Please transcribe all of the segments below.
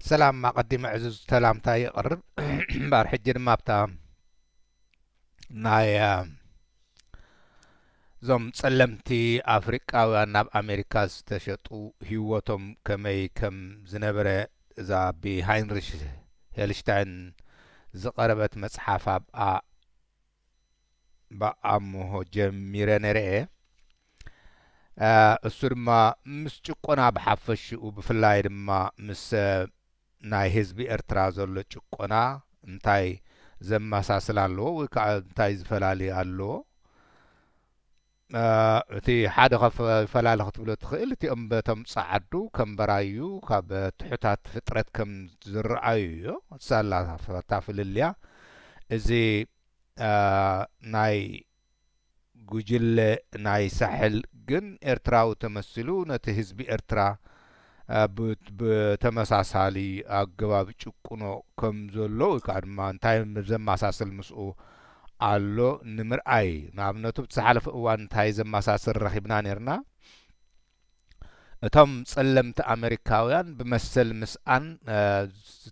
ሰላም ኣቀዲመ ዕዙዝ ሰላምታ የቅርብ እምበር ሕጂ ድማ ኣብታ ናይ እዞም ጸለምቲ ኣፍሪቃውያን ናብ ኣሜሪካ ዝተሸጡ ህይወቶም ከመይ ከም ዝነበረ እዛ ብሃይንሪሽ ሄልሽታይን ዝቐረበት መጽሓፍ ኣብኣ ብኣምሆ ጀሚረ ነረ እየ እሱ ድማ ምስ ጭቆና ብሓፈሽኡ ብፍላይ ድማ ምስ ናይ ህዝቢ ኤርትራ ዘሎ ጭቆና እንታይ ዘመሳስል ኣለዎ ወይ ከዓ እንታይ ዝፈላሊ ኣለዎ እቲ ሓደ ካብ ፈላሊ ክትብሎ እትኽእል እቲኦም በቶም ጸዓዱ ከም በራዩ ካብ ትሑታት ፍጥረት ከም ዝረኣዩዮ ሳላ እታ ፍልልያ እዚ ናይ ጉጅለ ናይ ሳሕል ግን ኤርትራዊ ተመሲሉ ነቲ ህዝቢ ኤርትራ ብተመሳሳሊ ኣገባብ ጭቁኖ ከም ዘሎ ወይ ከኣ ድማ እንታይ ዘማሳስል ምስኡ ኣሎ ንምርኣይ ንኣብነቱ ኣብቲ ዝሓለፈ እዋን እንታይ ዘማሳስል ረኺብና ኔርና እቶም ጸለምቲ ኣመሪካውያን ብመሰል ምስኣን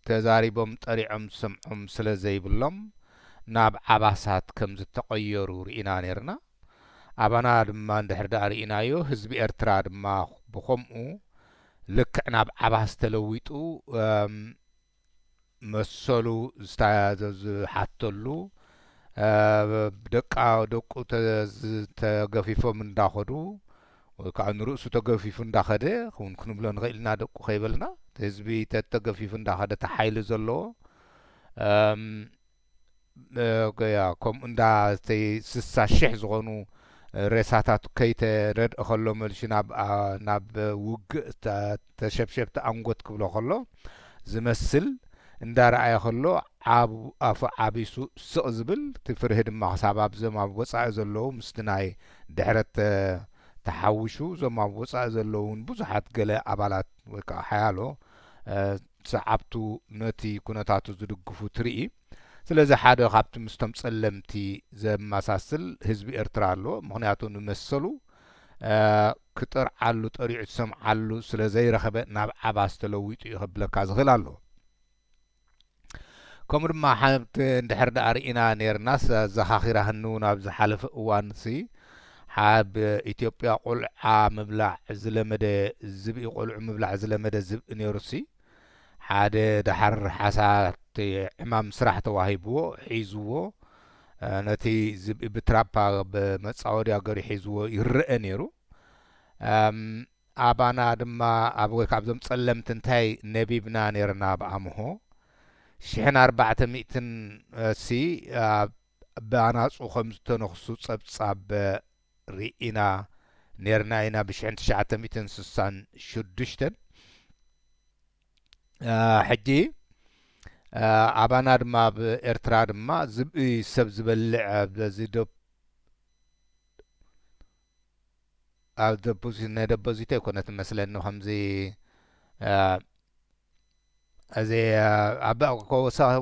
ተዛሪቦም ጠሪዖም ዝሰምዖም ስለ ዘይብሎም ናብ ዓባሳት ከም ዝተቐየሩ ርኢና ኔርና። ኣባና ድማ እንድሕር ድኣ ርኢናዮ ህዝቢ ኤርትራ ድማ ብኸምኡ ልክዕ ናብ ዓባስ ተለዊጡ መሰሉ ዝሓተሉ ደቃ ደቁ ተገፊፎም እንዳኸዱ ወይ ከዓ ንርእሱ ተገፊፉ እንዳኸደ ውን ክንብሎ ንኽእል ኢና ደቁ ከይበልና ህዝቢ ተተገፊፉ እንዳኸደ ተሓይሊ ዘለዎ ከምኡ እንዳ እተይ ስሳ ሽሕ ዝኾኑ ሬሳታት ከይተረድእ ከሎ መልሹ ናብ ውግእ ተሸብሸብቲ ኣንጎት ክብሎ ከሎ ዝመስል እንዳ ረኣየ ከሎ ዓብ ኣፉ ዓቢሱ ስቕ ዝብል እቲ ፍርሂ ድማ ክሳብ ኣብዞም ኣብ ወጻኢ ዘለዉ ምስቲ ናይ ድሕረት ተሓውሹ እዞም ኣብ ወጻኢ ዘለዉ ውን ብዙሓት ገለ ኣባላት ወይ ከኣ ሓያሎ ሰዓብቱ ነቲ ኩነታቱ ዝድግፉ ትርኢ። ስለዚ ሓደ ካብቲ ምስቶም ጸለምቲ ዘመሳስል ህዝቢ ኤርትራ ኣሎ። ምኽንያቱ ንመሰሉ ክጠርዓሉ ጠሪዑ ዝሰምዓሉ ስለ ዘይረኸበ ናብ ዓባስ ተለዊጡ እዩ ከብለካ ዝኽእል ኣሎ። ከምኡ ድማ ሓንቲ እንድሕር ደኣ ርኢና ኔርናስ ኣዘኻኺራ ህንው ናብ ዝሓለፈ እዋንሲ ኣብ ኢትዮጵያ ቆልዓ ምብላዕ ዝለመደ ዝብኢ ቆልዑ ምብላዕ ዝለመደ ዝብኢ ነይሩሲ ሓደ ደሓር ሓሳት ዕማም ስራሕ ተዋሂብዎ ሒዝዎ ነቲ ዝብኢ ብትራፓ ብመጻወድያ ገሩ ሒዝዎ ይረኣ ነይሩ ኣባና ድማ ኣብ ወይ ካብዞም ጸለምቲ እንታይ ነቢብና ነይርና ኣብ ኣምሆ ሽሕን ኣርባዕተ ሚእትን ሲ ኣብ ብኣናጹ ከም ዝተነኽሱ ጸብጻብ ርኢና ኔርና ኢና ብሽሕን ትሽዓተ ሚእትን ስሳን ሽዱሽተን ሕጂ ኣባና ድማ ኣብ ኤርትራ ድማ ዝብኢ ሰብ ዝበልዕ በዚ ዶብ ኣብ ደፖዚት ናይ ደፖዚት ኣይኮነት መስለኒ ከምዚ እዚ ኣብ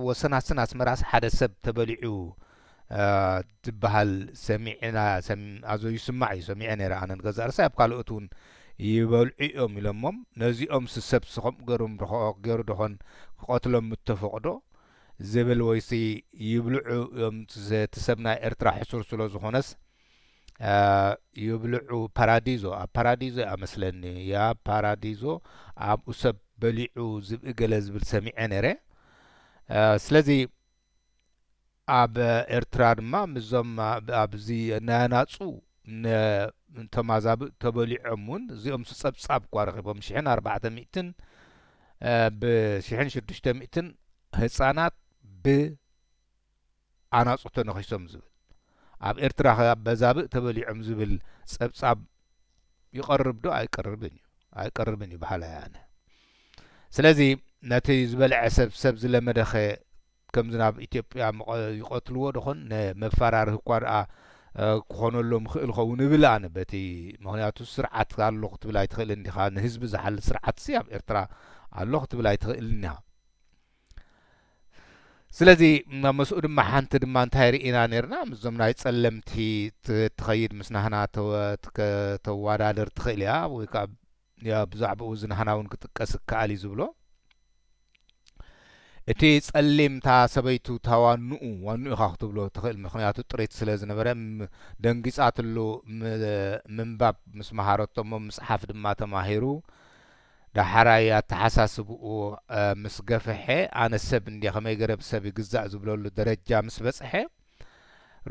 ወሰናስን ኣስመራስ ሓደ ሰብ ተበሊዑ ዝበሃል ሰሚዕና ኣዞ ይስማዕ እዩ ሰሚዐ ነይረ ኣነ ንገዛ ርሳይ ኣብ ካልኦት እውን ይበልዑ እዮም ኢሎሞም ነዚኦም ስሰብ ስከምኡ ገሩ ርክኦ ገሩ ደኾን ክቐትሎም ምተፈቕዶ ዝብል ወይሲ ይብልዑ እዮም ትሰብ ናይ ኤርትራ ሕሱር ስለ ዝኾነስ ይብልዑ ፓራዲዞ ኣብ ፓራዲዞ እያ መስለኒ ያ ፓራዲዞ ኣብኡ ሰብ በሊዑ ዝብኢ ገለ ዝብል ሰሚዐ ነረ ስለዚ ኣብ ኤርትራ ድማ ምዞም ኣብዚ ናያናፁ ተማዛብእ ተበሊዖም እውን እዚኦም ጸብጻብ እኳ ረኺቦም ሽሕን ኣርባዕተ ሚእትን ብሽሕን ሽዱሽተ ሚእትን ህፃናት ብ ኣናጹ ተነኺሶም ዝብል፣ ኣብ ኤርትራ ከ ኣበዛብእ ተበሊዖም ዝብል ጸብጻብ ይቐርብ ዶ ኣይቀርብን እዩ? ኣይቀርብን እዩ በሃላይ ኣነ። ስለዚ ነቲ ዝበልዐ ሰብ ሰብ ዝለመደ ከ ከምዚ ናብ ኢትዮጵያ ይቐትልዎ ዶኾን? ን መፋራርሂ እኳ ደኣ ክኾነሎም ይኽእል ይኸውን እብል ኣነ በቲ ምኽንያቱ ስርዓት ኣሎ ክትብል ኣይትኽእልን ዲኻ ንህዝቢ ዝሓሊ ስርዓትሲ ኣብ ኤርትራ ኣሎ ክትብል ኣይትኽእልን ኢኻ። ስለዚ ምስኡ ድማ ሓንቲ ድማ እንታይ ርኢና ነርና ምስዞም ናይ ጸለምቲ ትኸይድ ምስ ናህና ተዋዳድር ትኽእል እያ ወይ ከዓ ብዛዕባኡ እዚ ናህና እውን ክጥቀስ ይከኣል እዩ ዝብሎ እቲ ጸሊም እታ ሰበይቱ እታ ዋንኡ ዋንኡ ኢኻ ክትብሎ ትኽእል ምክንያቱ ጥሪት ስለ ዝነበረ ደንጊጻትሉ ምንባብ ምስ መሃረቶ እሞ ምጽሓፍ ድማ ተማሂሩ ዳሓራይ ኣታሓሳስብኡ ምስ ገፈሐ ኣነ ሰብ እንድየ ከመይ ገረ ብሰብ ይግዛእ ዝብለሉ ደረጃ ምስ በጽሐ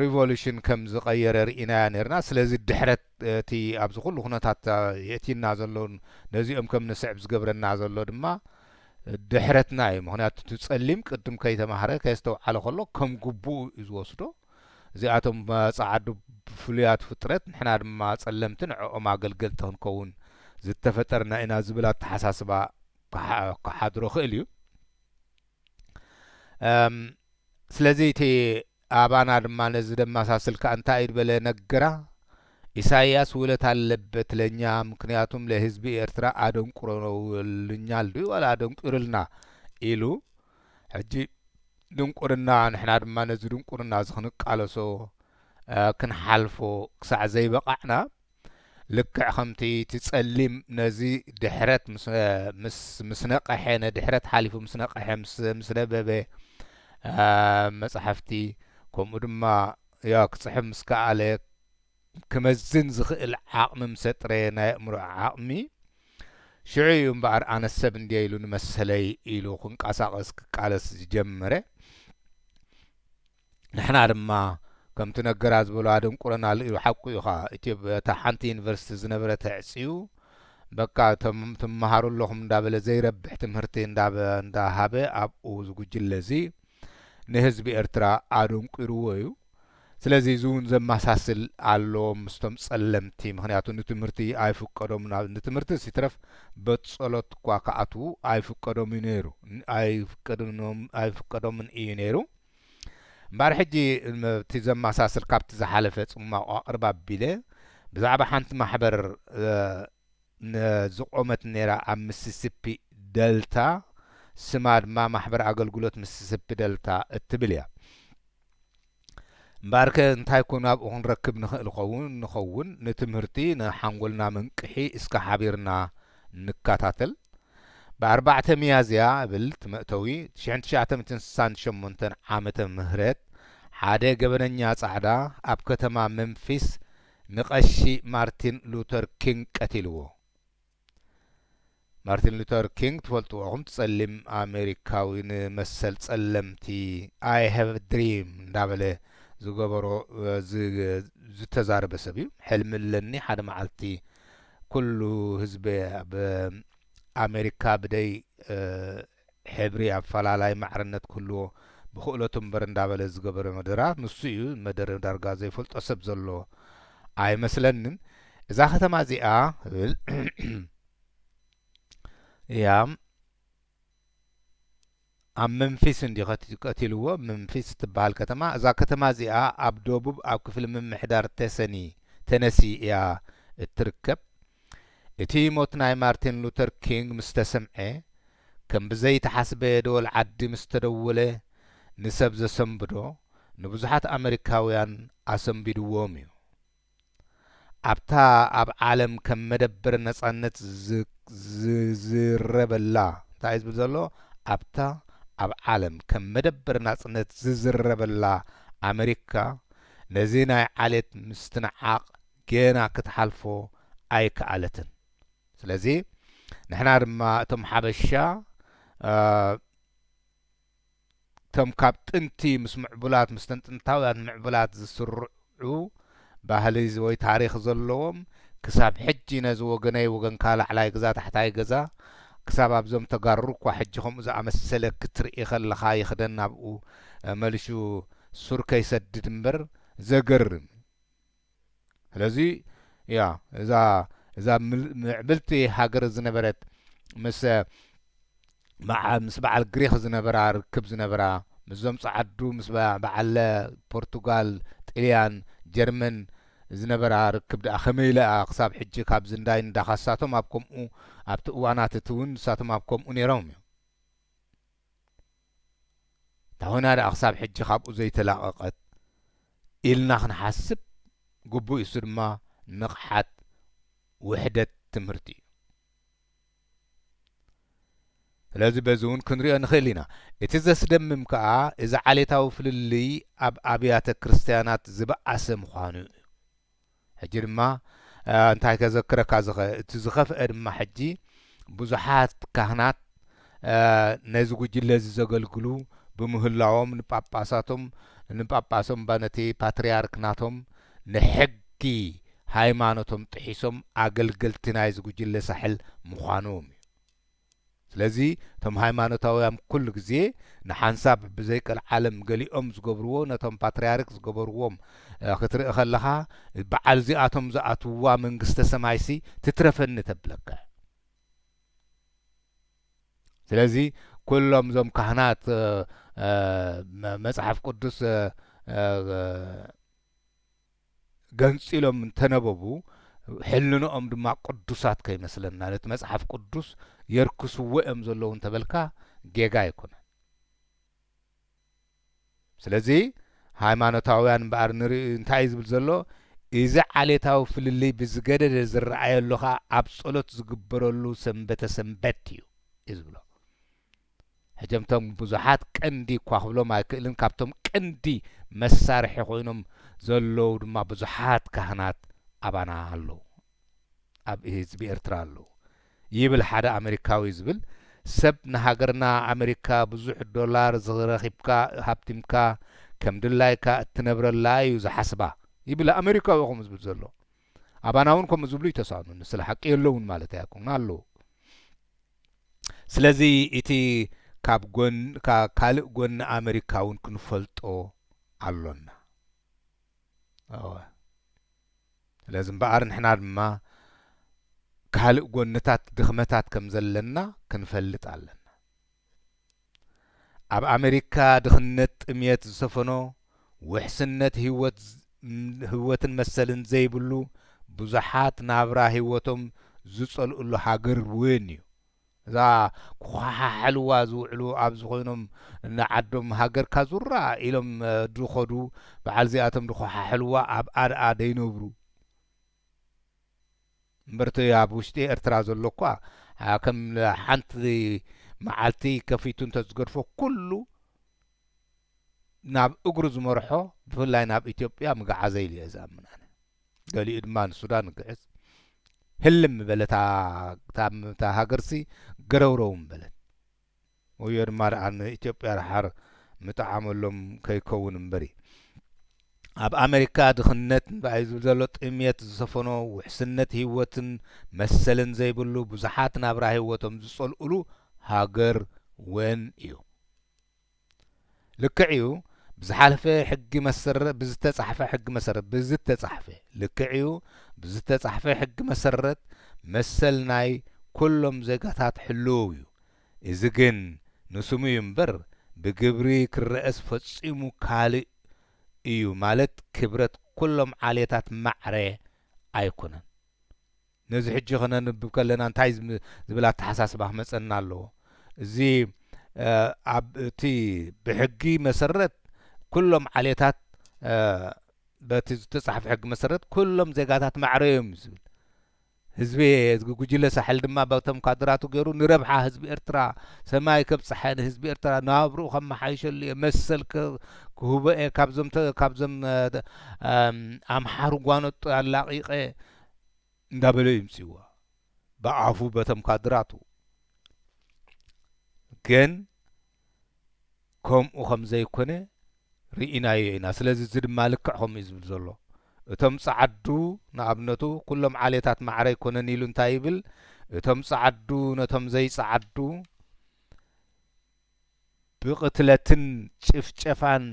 ሪቮሉሽን ከም ዝቀየረ ሪኢናዮ ኔርና ስለዚ ድሕረት እቲ ኣብዚ ኩሉ ኩነታት የእቲና ዘሎ ነዚኦም ከም ንስዕብ ዝገብረና ዘሎ ድማ ድሕረትና እዩ ምክንያቱ እቲ ጸሊም ቅድም ከይተማህረ ከየስተውዓለ ከሎ ከም ግቡኡ እዩ ዝወስዶ እዚኣቶም ጻዓዱ ፍሉያት ፍጥረት ንሕና ድማ ጸለምቲ ንዕኦም ኣገልገልቲ ክንከውን ዝተፈጠርና ኢና ዝብል ኣተሓሳስባ ክሓድሮ ክእል እዩ ስለዚ እቲ ኣባና ድማ ነዚ ደማሳስል ከኣ እንታይ በለ ነገራ ኢሳይያስ ውለታ ኣለበት ለኛ ምክንያቱም ለህዝቢ ኤርትራ ኣደንቁረውልኛል ድዩ ዋላ ኣደንቁርልና ኢሉ ሕጂ ድንቁርና ንሕና ድማ ነዚ ድንቁርና እዚ ክንቃለሶ ክንሓልፎ ክሳዕ ዘይበቓዕና ልክዕ ከምቲ እቲ ጸሊም ነዚ ድሕረት ምስ ነቐሐ ነድሕረት ሓሊፉ ምስ ነቐሐ ምስ ነበበ መጻሕፍቲ ከምኡ ድማ ያ ክጽሕፍ ምስ ከኣለ ክመዝን ዝኽእል ዓቕሚ ምስ ኣጥረየ ናይ ኣእምሮ ዓቕሚ ሽዑ እዩ እምበኣር ኣነስ ሰብ እንድየ ኢሉ ንመሰለይ ኢሉ ክንቀሳቐስ ክቃለስ ዝጀመረ። ንሕና ድማ ከምቲ ነገራ ዝበሎ ኣደንቁረና ኣሎ ኢሉ ሓቁ እዩ ኸኣ ኢትዮጵያ እታ ሓንቲ ዩኒቨርሲቲ ዝነበረት ኣዕጽዩ በቃ እቶም ትመሃሩ ኣለኹም እንዳበለ ዘይረብሕ ትምህርቲ እንዳሃበ ኣብኡ ዝጉጅለ እዚ ንህዝቢ ኤርትራ ኣደንቁርዎ እዩ። ስለዚ እዚ እውን ዘመሳስል ኣሎ ምስቶም ጸለምቲ ምክንያቱ ንትምህርቲ ኣይፍቀዶምን ኣብ ንትምህርትስ ይትረፍ በትጸሎት እኳ ክኣትዉ ኣይፍቀዶም እዩ ነይሩ ኣይፍቀዶምን እዩ ነይሩ እምበኣር ሕጂ እቲ ዘመሳስል ካብቲ ዝሓለፈ ጽማቕ ኣቕርብ ኣቢለ ብዛዕባ ሓንቲ ማሕበር ዝቖመት ነይራ ኣብ ምስስፒ ደልታ ስማ ድማ ማሕበር ኣገልግሎት ምስስፒ ደልታ እትብል እያ እምበኣርከ እንታይ ኮን ኣብኡ ክንረክብ ንኽእል ኸውን ንኸውን ንትምህርቲ ንሓንጎልና መንቅሒ እስከ ሓቢርና ንከታተል ብኣርባዕተ ሚያዝያ እብል ትመእተዊ ትሽሕን ትሽዓተምትን ስሳን ሸሞንተን ዓመተ ምህረት ሓደ ገበነኛ ጻዕዳ ኣብ ከተማ መምፊስ ንቀሺ ማርቲን ሉተር ኪንግ ቀቲልዎ ማርቲን ሉተር ኪንግ ትፈልጥዎ ኢኹም ጸሊም ኣሜሪካዊ ንመሰል ጸለምቲ ኣይ ሃቭ ድሪም እንዳበለ ዝገበሮ ዝተዛረበ ሰብ እዩ ሕልሚ ኣለኒ ሓደ መዓልቲ ኩሉ ህዝቢ ኣብ ኣሜሪካ ብደይ ሕብሪ ኣፈላላይ ማዕርነት ክህልዎ ብክእለቱ እምበር እንዳበለ ዝገበሮ መደራ ንሱ እዩ መደረ ዳርጋ ዘይፈልጦ ሰብ ዘሎ ኣይመስለንን እዛ ከተማ እዚኣ እያ ኣብ መንፊስ እንዲ ቀቲልዎ መንፊስ ትበሃል ከተማ እዛ ከተማ እዚኣ ኣብ ደቡብ ኣብ ክፍሊ ምምሕዳር ቴሰኒ ተነሲ እያ እትርከብ እቲ ሞት ናይ ማርቲን ሉተር ኪንግ ምስ ተሰምዐ፣ ከም ብዘይተሓስበ ደወል ዓዲ ምስ ተደወለ፣ ንሰብ ዘሰንብዶ ንብዙሓት ኣመሪካውያን ኣሰንቢድዎም እዩ። ኣብታ ኣብ ዓለም ከም መደበር ነጻነት ዝዝረበላ፣ እንታይ እዩ ዝብል ዘሎ? ኣብታ ኣብ ዓለም ከም መደበር ናጽነት ዝዝረበላ ኣመሪካ፣ ነዚ ናይ ዓሌት ምስትንዓቕ ጌና ክትሓልፎ ኣይከኣለትን ስለዚ ንሕና ድማ እቶም ሓበሻ እቶም ካብ ጥንቲ ምስ ምዕቡላት ምስተን ጥንታውያን ምዕቡላት ዝስርዑ ባህሊ ወይ ታሪኽ ዘለዎም ክሳብ ሕጂ ነዚ ወገነይ ወገንካ ላዕላይ ገዛ ታሕታይ ገዛ ክሳብ ኣብዞም ተጋሩ እኳ ሕጂ ከምኡ ዝኣመሰለ ክትርኢ ከለኻ ይኽደን ናብኡ መልሹ ሱር ከይሰድድ እምበር ዘገርም ስለዚ እያ እዛ እዛ ምዕብልቲ ሃገር ዝነበረት ምስ ምስ በዓል ግሪኽ ዝነበራ ርክብ ዝነበራ ምስዞም ጸዓዱ ምስ በዓለ ፖርቱጋል፣ ጥልያን፣ ጀርመን ዝነበራ ርክብ ደኣ ከመይ ኢላ እያ ክሳብ ሕጂ ካብ ዝንዳይ ንዳኻ ንሳቶም ኣብ ከምኡ ኣብቲ እዋናት እቲ እውን ንሳቶም ኣብ ከምኡ ነይሮም እዮም። ታሁና ደኣ ክሳብ ሕጂ ካብኡ ዘይተላቐቐት ኢልና ክንሓስብ ግቡእ'ዩ፣ እሱ ድማ ንቕሓት ውሕደት ትምህርቲ እዩ። ስለዚ በዚ እውን ክንሪኦ ንኽእል ኢና። እቲ ዘስደምም ከኣ እዚ ዓሌታዊ ፍልልይ ኣብ ኣብያተ ክርስትያናት ዝበኣሰ ምዃኑ እዩ። ሕጂ ድማ እንታይ ከዘክረካ ዝኸ እቲ ዝኸፍአ ድማ ሕጂ ብዙሓት ካህናት ነዚ ጉጅለ እዚ ዘገልግሉ ብምህላዎም ንጳጳሳቶም ንጳጳሶም እባ ነቲ ፓትርያርክ ናቶም ንሕጊ ሃይማኖቶም ጥሒሶም ኣገልገልቲ ናይዚ ጉጅለ ሳሕል ምዃኖም እዩ። ስለዚ እቶም ሃይማኖታውያም ኩሉ ግዜ ንሓንሳብ ብዘይ ቀልዓለም ገሊኦም ዝገብርዎ ነቶም ፓትርያርክ ዝገበርዎም ክትርኢ ከለኻ በዓል እዚኣቶም ዝኣትውዋ መንግስተ ሰማይሲ ትትረፈኒ ተብለካ ስለዚ ኩሎም እዞም ካህናት መጽሓፍ ቅዱስ ገንጺሎም እንተ ነበቡ፣ ሕልንኦም ድማ ቅዱሳት ከይመስለና፣ ነቲ መጽሓፍ ቅዱስ የርክስዎ እዮም ዘለዉ እንተ በልካ ጌጋ ኣይኮነን። ስለዚ ሃይማኖታውያን እምበኣር ንርኢ እንታይ እዩ ዝብል ዘሎ፣ እዚ ዓሌታዊ ፍልልይ ብዝገደደ ዝረኣየሉ ኸኣ ኣብ ጸሎት ዝግበረሉ ሰንበተ ሰንበት እዩ እዩ ዝብሎ። ህጀምቶም ብዙሓት ቀንዲ እኳ ክብሎም ኣይክእልን ካብቶም ቀንዲ መሳርሒ ኮይኖም ዘለዉ ድማ ብዙሓት ካህናት ኣባና ኣለዉ ኣብ ህዝቢ ኤርትራ ኣለዉ ይብል ሓደ ኣመሪካዊ ዝብል ሰብ ንሃገርና ኣመሪካ ብዙሕ ዶላር ዝረኪብካ ሃብቲምካ ከም ድላይካ እትነብረላ እዩ ዝሓስባ ይብል ኣመሪካዊ እዩ ከምኡ ዝብል ዘሎ ኣባና እውን ከምኡ ዝብሉ ይተሳእኑኒ ስለ ሓቂ የለውን ማለት ኣይኮኑን ኣለዉ ስለዚ እቲ ካብ ካልእ ጎኒ ኣመሪካ እውን ክንፈልጦ ኣሎና። እወ ስለዚ እምበኣር ንሕና ድማ ካልእ ጎንታት ድኽመታት ከም ዘለና ክንፈልጥ ኣለና። ኣብ ኣመሪካ ድኽነት ጥምየት ዝሰፈኖ ውሕስነት ህይወትን መሰልን ዘይብሉ ብዙሓት ናብራ ህይወቶም ዝፀልኡሉ ሃገር ውን ዩ። እዛ ክኾሓሕልዋ ዝውዕሉ ኣብዚ ኮይኖም ንዓዶም ሃገርካ ዙራ ኢሎም ድኸዱ በዓል ዚኣቶም ድኾሓሕልዋ ኣብ ኣድኣ ደይነብሩ። እምበር'ቲ ኣብ ውሽጢ ኤርትራ ዘሎ'ኳ ከም ሓንቲ መዓልቲ ከፊቱ እንተዝገድፎ ኩሉ ናብ እግሩ ዝመርሖ ብፍላይ ናብ ኢትዮጵያ ምገዓዘ ኢለ'የ ዝኣምን ኣነ። ገሊኡ ድማ ንሱዳን ይግዕዝ። ህልም ምበለት እታ ሃገርሲ ገረውረው ምበለት። ወዮ ድማ ድኣ ን ኢትዮጵያ ድሓር ምጠዓመሎም ከይከውን እምበሪ። ኣብ ኣመሪካ ድኽነት እንባ'ዩ ዝብል ዘሎ ጥምየት ዝሰፈኖ ውሕስነት ሂወትን መሰልን ዘይብሉ ብዙሓት ናብራ ሂወቶም ዝጸልኡሉ ሃገር ወን እዩ። ልክዕ እዩ ብዝሓለፈ ሕጊ መሰረት ብዝተፃሕፈ ሕጊ መሰረት ብዝተፃሕፈ ልክዕ እዩ ብዝተፃሕፈ ሕጊ መሰረት መሰል ናይ ኩሎም ዜጋታት ሕልው እዩ እዚ ግን ንስሙ እዩ እምበር ብግብሪ ክረኣስ ፈፂሙ ካልእ እዩ ማለት ክብረት ኩሎም ዓሌታት ማዕረ ኣይኮነን ነዚ ሕጂ ከነንብብ ከለና እንታይ ዝብል ኣተሓሳስባ ክመጸና ኣለዎ? እዚ ኣብ እቲ ብሕጊ መሰረት ኩሎም ዓሌታት በቲ ዝተጻሕፈ ሕጊ መሰረት ኩሎም ዜጋታት ማዕረ እዮም እዩ ዝብል። ህዝቤ ጉጅለ ሳሕል ድማ በቶም ካድራቱ ገይሩ ንረብሓ ህዝቢ ኤርትራ ሰማይ ከብጽሓ ንህዝቢ ኤርትራ ናብርኡ ከመሓይሸሉ እየ መሰል ክህቦ እየ ካብዞም ካብዞም ኣምሓሩ ጓኖጦ ኣላቒቐ እንዳበለ እዩ ምጺዋ ብኣፉ በቶም ካድራቱ ግን ከምኡ ከም ዘይኮነ ርኢናዮ ኢና ስለዚ እዚ ድማ ልክዕ ከምኡ እዩ ዝብል ዘሎ እቶም ጸዓዱ ንኣብነቱ ኩሎም ዓሌታት ማዕረ ኣይኮነን ኢሉ እንታይ ይብል እቶም ጸዓዱ ነቶም ዘይጸዓዱ ብቕትለትን ጭፍጨፋን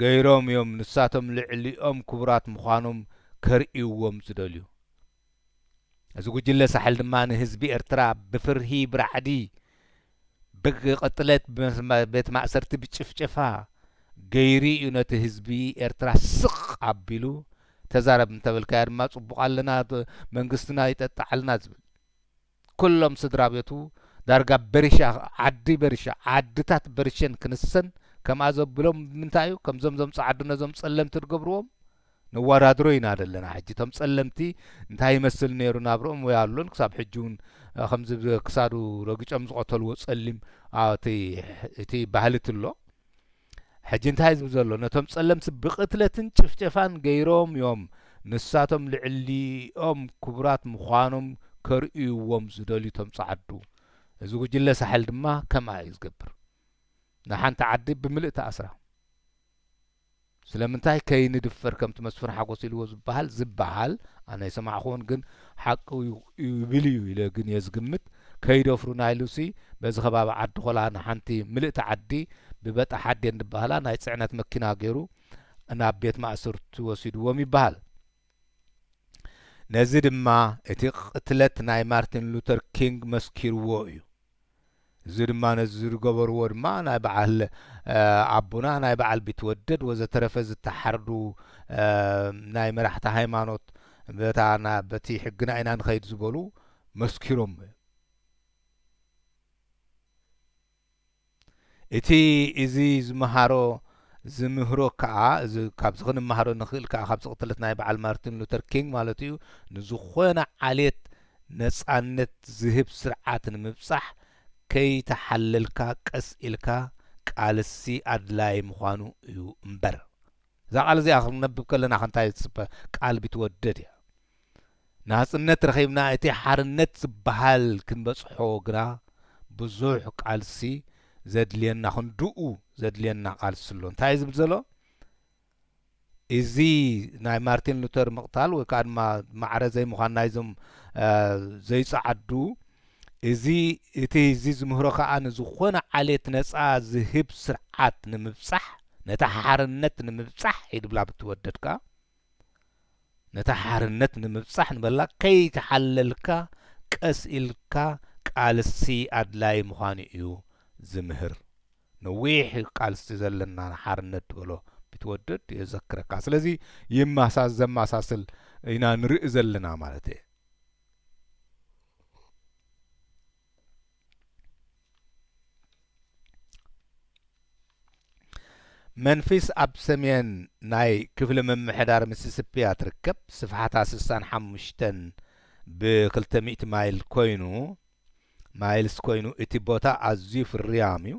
ገይሮም እዮም ንሳቶም ልዕሊኦም ክቡራት ምዃኖም ከርእይዎም ዝደልዩ። እዚ ጉጅለ ሳሕል ድማ ንህዝቢ ኤርትራ ብፍርሂ ብራዕዲ ብቅትለት ቤት ማእሰርቲ ብጭፍጨፋ ገይሩ እዩ ነቲ ህዝቢ ኤርትራ ስቅ ኣቢሉ ተዛረብ እንተበልካዮ ድማ ጽቡቅ ኣለና መንግስትና ይጠጥዓልና ዝብል ኩሎም ስድራቤቱ ዳርጋ በሪሻ ዓዲ በሪሻ ዓድታት በሪሸን ክንሰን ከምኣ ዘብሎም ብምንታይ እዩ ከምዞም ዞም ጻዓዱ ነዞም ጸለምቲ ድገብርዎም ነዋዳድሮ ኢና ደለና ሕጂ ቶም ጸለምቲ እንታይ ይመስል ነሩ ናብርኦም ወይ ኣሎን ክሳብ ሕጂ ውን ከምዚ ክሳዱ ረግጮም ዝቀተልዎ ጸሊም ኣቲ እቲ ባህሊ ትሎ ሕጂ እንታይ ዝብል ዘሎ ነቶም ጸለምቲ ብቅትለትን ጭፍጨፋን ገይሮም ዮም ንሳቶም ልዕሊኦም ክቡራት ምዃኖም ከርእይዎም ዝደልዩ ቶም ጸዓዱ እዚ ጉጅለ ሳሕል ድማ ከምኣ ዩ ዝገብር ንሓንቲ ዓዲ ብምልእታ ኣስራ ስለምንታይ ከይንድፈር ከምቲ መስፍን ሓጎስ ኢልዎ ዝበሃል ዝበሃል ኣነ ኣይሰማዕክዎን ግን ሓቁ እዩ ይብል እዩ ኢለ ግን እየ ዝግምት ከይደፍሩና ኢሉሲ በዚ ከባቢ ዓዲ ኾላ ንሓንቲ ምልእቲ ዓዲ ብበጣሕ ኣዴን ድበሃላ ናይ ፅዕነት መኪና ገይሩ ናብ ቤት ማእስርቲ ወሲድዎም ይበሃል። ነዚ ድማ እቲ ቕትለት ናይ ማርቲን ሉተር ኪንግ መስኪርዎ እዩ። እዚ ድማ ነዚ ዝገበርዎ ድማ ናይ በዓል ኣቡና ናይ በዓል ቢትወደድ ወዘተረፈ ዝተሓርዱ ናይ መራሕቲ ሃይማኖት በታ በቲ ሕግና ኢና ንኸይድ ዝበሉ መስኪሮም እቲ እዚ ዝመሃሮ ዝምህሮ ከኣ እዚ ካብዚ ክንመሃሮ ንኽእል ከኣ ካብዚ ቅትለት ናይ በዓል ማርቲን ሉተር ኪንግ ማለቱ እዩ ንዝኾነ ዓሌት ነጻነት ዝህብ ስርዓት ንምብጻሕ ከይተሓለልካ ቀስ ኢልካ ቃልሲ ኣድላዪ ምዃኑ እዩ እምበር። እዛ ቃል እዚኣ ክንነብብ ከለና ከ እንታይ ትጽበ ቃል ቢትወደድ እያ። ናጽነት ረኺብና እቲ ሓርነት ዝበሃል ክንበጽሖ ግና ብዙሕ ቃልሲ ዘድልየና ክንድኡ ዘድልየና ቃልሲ ኣሎ እንታይ እዩ ዝብል ዘሎ እዚ ናይ ማርቲን ሉተር ምቕታል ወይ ከዓ ድማ ማዕረ ዘይምዃን ናይዞም ዘይጸዓዱ እዚ እቲ እዚ ዝምህሮ ከዓ ንዝኾነ ዓሌት ነፃ ዝህብ ስርዓት ንምብፃሕ ነታ ሓርነት ንምብፃሕ ይድብላ ብትወደድካ ነታ ሓርነት ንምብጻሕ ንበላ ከይተሓለልካ ቀስ ኢልካ ቃልሲ ኣድላይ ምዃኑ እዩ ዝምህር። ነዊሕ ቃልሲ ዘለና ንሓርነት ትበሎ ቢትወደድ የዘክረካ። ስለዚ ይማሳ ዘማሳስል ኢና ንርኢ ዘለና ማለት እየ። መንፊስ ኣብ ሰሜን ናይ ክፍሊ ምምሕዳር ሚሲሲፒ እያ ትርከብ። ስፍሓታ 65 ብ200 ማይል ኮይኑ ማይልስ ኮይኑ እቲ ቦታ ኣዝዩ ፍርያም እዩ።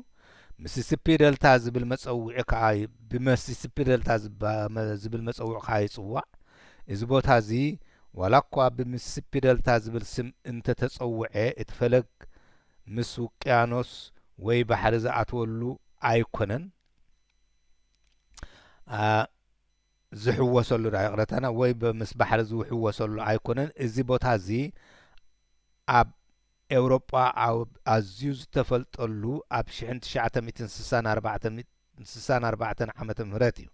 ሚሲሲፒ ደልታ ዝብል መጸውዒ ከኣ ብመሲሲፒ ደልታ ዝባ- ዝብል መጸውዒ ከኣ ይጽዋዕ። እዚ ቦታ እዚ ዋላ እኳ ብሚሲሲፒ ደልታ ዝብል ስም እንተ ተጸውዐ እቲ ፈለግ ምስ ውቅያኖስ ወይ ባሕሪ ዝኣትወሉ ኣይኮነን ኣ ዝሕወሰሉ ድኣ ይቕረታና ወይ ምስ ባሕሪ ዝውሕወሰሉ ኣይኮነን እዚ ቦታ እዚ ኣብ ኤውሮጳ ኣብ ኣዝዩ ዝተፈልጠሉ ኣብ ሽሕን ትሽዓተ ሚእትን ስሳን ኣርባዕተን ስሳን ኣርባዕተን ዓመተ ምህረት እዩ።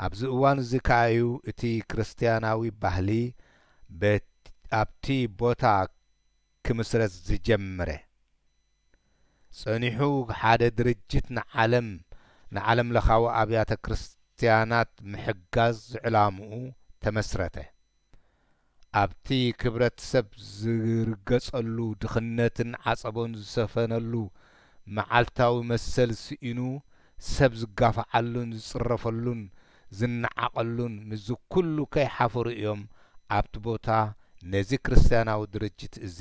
ኣብዚ እዋን እዚ ከኣ እዩ እቲ ክርስትያናዊ ባህሊ በት ኣብቲ ቦታ ክምስረት ዝጀምረ። ጸኒሑ ሓደ ድርጅት ንዓለም ንዓለምለኻዊ ኣብያተ ክርስትያናት ምሕጋዝ ዕላምኡ ተመስረተ። ኣብቲ ክብረት ሰብ ዝርገጸሉ፣ ድኽነትን ዓጸቦን ዝሰፈነሉ፣ መዓልታዊ መሰል ስኢኑ ሰብ ዝጋፋዓሉን ዝጽረፈሉን ዝነዓቐሉን ምስዚ ኩሉ ከይሓፈሩ እዮም ኣብቲ ቦታ ነዚ ክርስትያናዊ ድርጅት እዚ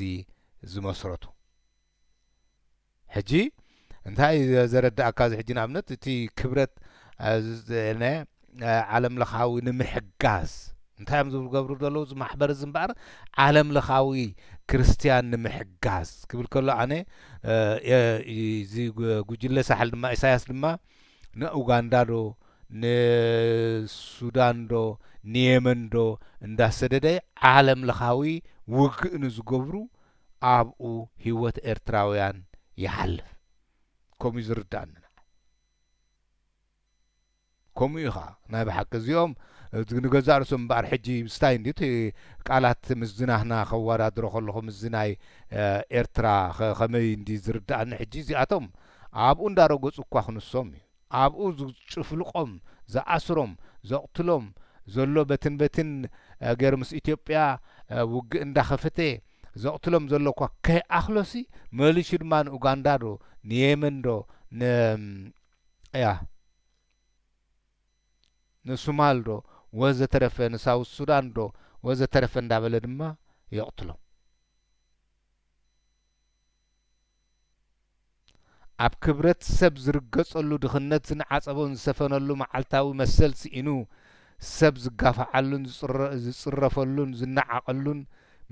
ዝመስረቱ። ሕጂ እንታይ እዩ ዘረድኣካ እዚ ሕጂ ንኣብነት እቲ ክብረት ን ዓለም ለኻዊ ንምሕጋዝ እንታይ እዮም ዝገብሩ ዘለዉ እዚ ማሕበር እዚ እምበኣር ዓለም ለኻዊ ክርስትያን ንምሕጋዝ ክብል ከሎ ኣነ እዚ ጉጅለ ሳሕል ድማ ኢሳያስ ድማ ንኡጋንዳ ዶ ንሱዳን ዶ ንየመን ዶ እንዳሰደደ ዓለም ለኻዊ ውግእ ንዝገብሩ ኣብኡ ሂወት ኤርትራውያን ይሓልፍ ከምኡ እዩ ዝርድኣኒ ንዓይ ከምኡ እዩ ከኣ ናይ ብሓቂ እዚኦም ንገዛእ ርእሶም እምበኣር ሕጂ ምስታይ እንድዩ እቲ ቃላት ምስዚ ናህና ከዋዳድሮ ከለኹ ምስዚ ናይ ኤርትራ ከመይ እንድዩ ዝርድኣኒ ሕጂ እዚኣቶም ኣብኡ እንዳረገጹ እኳ ክንሶም እዩ ኣብኡ ዝጭፍልቆም ዝኣስሮም ዘቅትሎም ዘሎ በትን በትን ገሩ ምስ ኢትዮጵያ ውግእ እንዳከፈተ ዘቅትሎም ዘሎ እኳ ከይኣክሎሲ መሊሹ ድማ ንኡጋንዳ ዶ ንየመን ዶ ን ኣያ ንሱማል ዶ ወዘተረፈ ንሳውዝ ሱዳን ዶ ወዘተረፈ እንዳበለ ድማ የቅትሎም። ኣብ ክብረት ሰብ ዝርገጸሉ፣ ድኽነት ዝንዓጸቦን ዝሰፈነሉ መዓልታዊ መሰል ስኢኑ ሰብ ዝጋፋዓሉን ዝጽረፈሉን ዝነዓቐሉን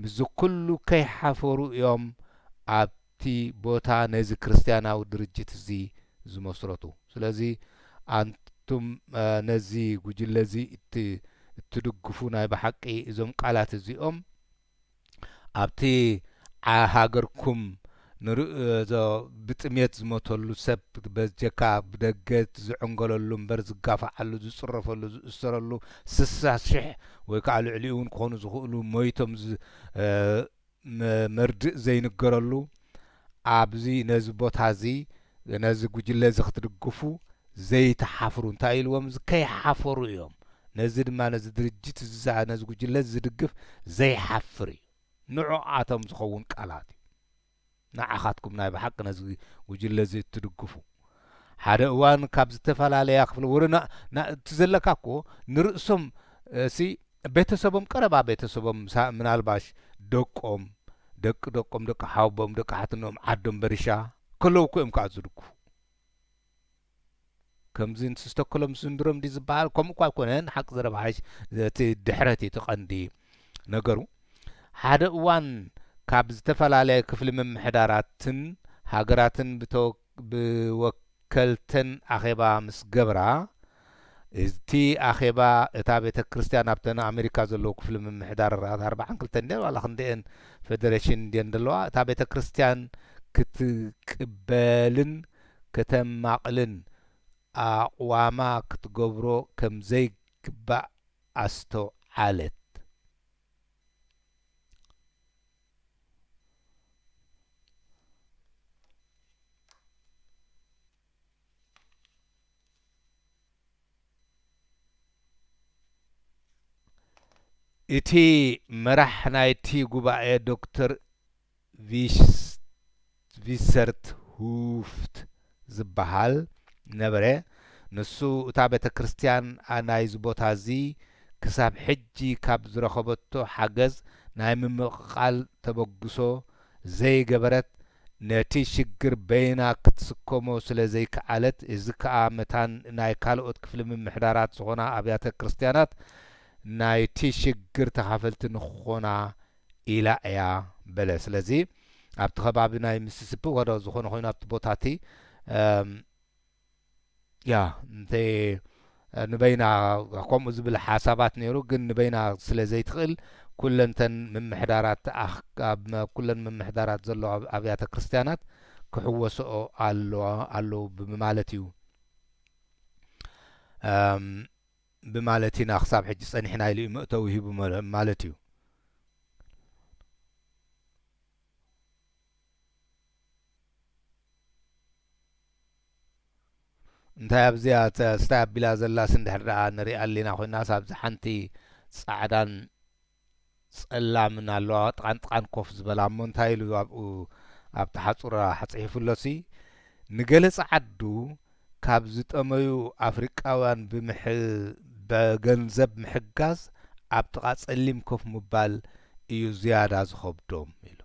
ምስዚ ኩሉ ከይሓፈሩ እዮም ኣብ እቲ ቦታ ነዚ ክርስትያናዊ ድርጅት እዚ ዝመስረቱ። ስለዚ ኣንቱም ነዚ ጉጅለ እዚ እትድግፉ ናይ ብሓቂ እዞም ቃላት እዚኦም፣ ኣብቲ ዓያ ሃገርኩም ንርእዞ ብጥሜት ዝሞተሉ ሰብ በጀካ ብደገ ዝዕንገለሉ እምበር ዝጋፋዓሉ ዝጽረፈሉ ዝእሰረሉ ስሳ ሽሕ ወይ ከኣ ልዕሊኡ ውን ክኮኑ ዝክእሉ ሞይቶም መርድእ ዘይንገረሉ ኣብዚ ነዚ ቦታ እዚ ነዚ ጉጅለ እዚ ክትድግፉ ዘይትሓፍሩ እንታይ ኢልዎም እዚ ከይሓፈሩ እዮም ነዚ ድማ ነዚ ድርጅት እዚ ዝኣ ነዚ ጉጅለ እዚ ዝድግፍ ዘይሓፍር እዩ ንዖኣቶም ዝኸውን ቃላት እዩ ንዓኻትኩም ናይ ብሓቂ ነዚ ጉጅለ እዚ እትድግፉ ሓደ እዋን ካብ ዝተፈላለያ ክፍለ ወረ እቲ ዘለካ እኮ ንርእሶም እሲ ቤተሰቦም ቀረባ ቤተሰቦም ምናልባሽ ደቆም ደቂ ደቆም ደቂ ሓውቦም ደቂ ሓትኖኦም ዓዶም በርሻ ከለዉ እኮ እዮም ከኣ ዝድግፉ ከምዚ ንስቶክሎም ስንድሮም ዲ ዝበሃል ከምኡ እኳ ኣይኮነን ሓቂ ዘረባሓሽ እቲ ድሕረት እቲ ቀንዲ ነገሩ ሓደ እዋን ካብ ዝተፈላለየ ክፍሊ ምምሕዳራትን ሃገራትን ብተወ ብወከልተን ኣኼባ ምስ ገብራ፣ እቲ ኣኼባ እታ ቤተ ክርስቲያን ኣብተን ኣብ ኣሜሪካ ዘለዉ ክፍሊ ምምሕዳር ራት ኣርብዓን ክልተን ድየን ዋላ ክንደኤን ፈደረሽን ድየን ዘለዋ እታ ቤተ ክርስቲያን ክትቅበልን ከተማቕልን ኣቕዋማ ክትገብሮ ከም ዘይግባእ ኣስተውዓለት። እቲ መራሕ ናይቲ ጉባኤ ዶክተር ቪስቲቭ ትቪሰርት ሁፍት ዝበሃል ነበረ፣ ንሱ እታ ቤተ ክርስቲያን ናይዚ ቦታ እዚ ክሳብ ሕጂ ካብ ዝረኸበቶ ሓገዝ ናይ ምምቕቓል ተበግሶ ዘይገበረት፣ ነቲ ሽግር በይና ክትስከሞ ስለ ዘይከኣለት፣ እዚ ከኣ መታን ናይ ካልኦት ክፍሊ ምምሕዳራት ዝኾና ኣብያተ ክርስቲያናት ናይቲ ሽግር ተኻፈልቲ ንክኾና ኢላ እያ በለ። ስለዚ ኣብቲ ከባቢ ናይ ሚሲሲፒ ወረ ዝኾነ ኮይኑ ኣብቲ ቦታ እቲ ያ እንተ ንበይና ከምኡ ዝብል ሓሳባት ነይሩ ግን ንበይና ስለ ዘይትኽእል ኩለንተን ምምሕዳራት ኣብ ኩለን ምምሕዳራት ዘሎ ኣብያተ ክርስቲያናት ክሕወስኦ ኣለዉ ብምማለት እዩ ብማለት ኢና ክሳብ ሕጂ ጸኒሕና ኢሉ እዩ መእተዊ ሂቡ ማለት እዩ። እንታይ ኣብዚኣ ስታይ ኣቢላ ዘላስ እንድሕር ደኣ ንሪኣ ኣሊና ኮይናስ ኣብዚ ሓንቲ ጻዕዳን ጸላምን ኣለዋዋ ጥቓንጥቓን ኮፍ ዝበላ እሞ እንታይ ኢሉ ኣብኡ ኣብታ ሓጹር ኣሕጺሒፉሎሲ ንገለ ጸዓዱ ካብ ዝጠመዩ ኣፍሪቃውያን ብገንዘብ ምሕጋዝ ኣብ ጥቓ ጸሊም ኮፍ ምባል እዩ ዝያዳ ዝኸብዶም ኢሉ።